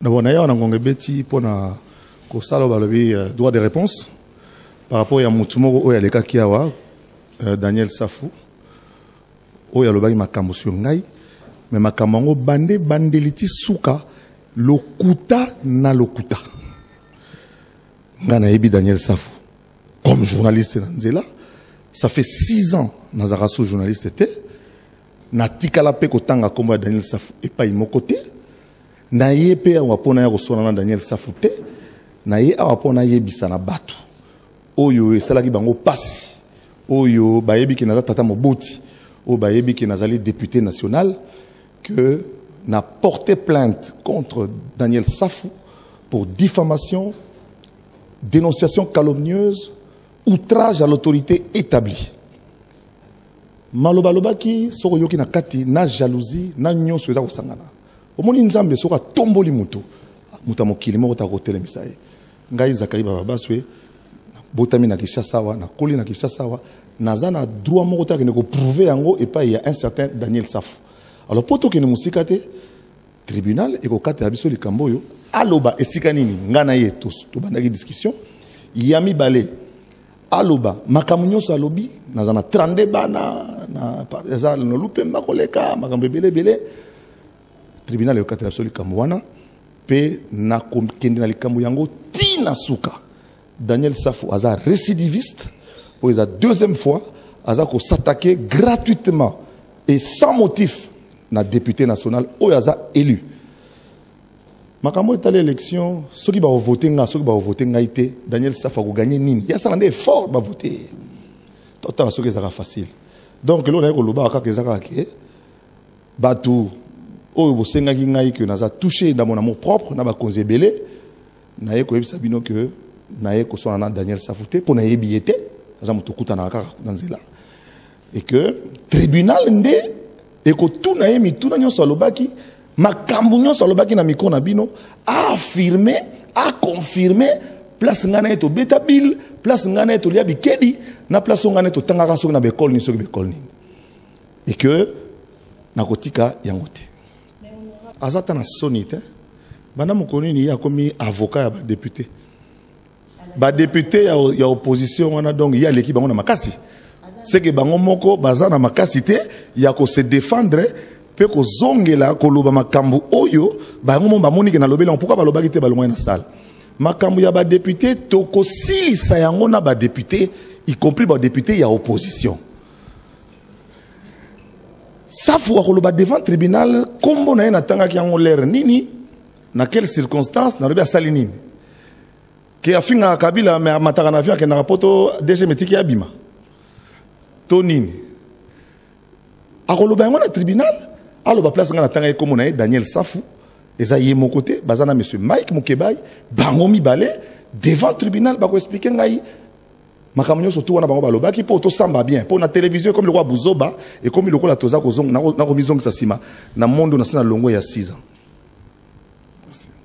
D'abord, na yawa na ngonga ebeti mpo na kosala balobi euh, droit de réponse par rapport ya motu moko oyo alekaki awa euh, Daniel Safu oyo alobaki makambo sur ngai mais makambo yango bande bandeli ti suka lokuta na lokuta ngai nayebi Daniel Safu comme journaliste na nzela ça fait six ans nazalaka sous journaliste te natikala mpe kotanga nkombo ya Daniel Safu epai moko te Na ye pe awa po naya koswana na Daniel Safu te, na ye awa po nayebisa na batu oyo esalaki bango pasi, oyo bayebi ke naza tata moboti, oyo bayebi ke nazali depute national, que na porter plainte contre Daniel Safu pour diffamation, denonciation calomnieuse, outrage à l'autorite etablie. Maloba alobaki soki oyoki na kati na jalousie na nionso eza kosangana. omoni nzambe soki atomboli moto moto ya mokili moko ta kotelemisa ye ngai zakai bababaswe botami na kinshasa awa nakoli na kinshasa awa naza na droit moko te akende koprouve yango epai ya un certain daniel safu alors mpo tokende mosika te tribunal ekokatela biso likambo oyo aloba esika nini ngai na ye tobandaki discussion ya mibale aloba makambo nyonso alobi naza na 32 bana eza nolu mpe makoleka makambo ebele ebele tribunal ekokatela biso likambo wana mpe nakokende na likambo yango ti na suka daniel safu aza récidiviste oyo eza deuxième fois aza kosatake gratuitement et sans motif na député national oyo aza élu makambo etali élection soki bakovote ngai soki bakovote ngai te daniel safa akoganye nini ye asala nde effort bavote ye totala soki ezalaka facile donc eloko naye kolobaka kaka eza kaka ke bato oyo bosengaki ngai ke naza touche na mon amour propre na bakonzi ebele naye koyebisa bino ke naye koswana na daniel safu te mpo nayebi ye te aza moto okutanaka kaka na nzela et que tribunal nde ekotuna ye mituna nyonso alobaki makambo nyonso alobaki na mikro na bino aaffirme aconfirme place ngai na ye tobeta bile place ngai na ye tolia bikedi na place oyo ngai na ye totangaka soki na baekole nini soki baekole nini et que nakotika yango te aza ata na soni te banda mokolo nini ye akomi avocat ya badepute ba depute ya, ya opposition wana donc ye aleki bango na makasi seke bango moko baza na makasi te ya ko se défendre mpe kozongela koloba makambo oyo bango moko bamoni ke nalobeli yango pourkui balobaki te balongwaki na sale makambo ya badepute tokosilisa yango na badepute y compris badepute ya opposition safu akoloba devant tribunal nkombo na ye natangaki yango lere nini Na quelle circonstance nalobi asali nini? Ke afingaka Kabila mais amataka na avion akendaka poto DG metiki abima to nini? Akoloba yango na tribunal aloba place nga natanga ye kombo na ye Daniel Safu eza ye moko te baza na monsieur Mike Mukebayi bango mibale devant tribunal bako expliquer ngai makambo nyonso tu wana bango balobaki mpo tosamba bien mpo na televizio ekomi lokola buzoba ekomi lokola toza nakomizongisa nsima na mondo na se na longo ya 6 ans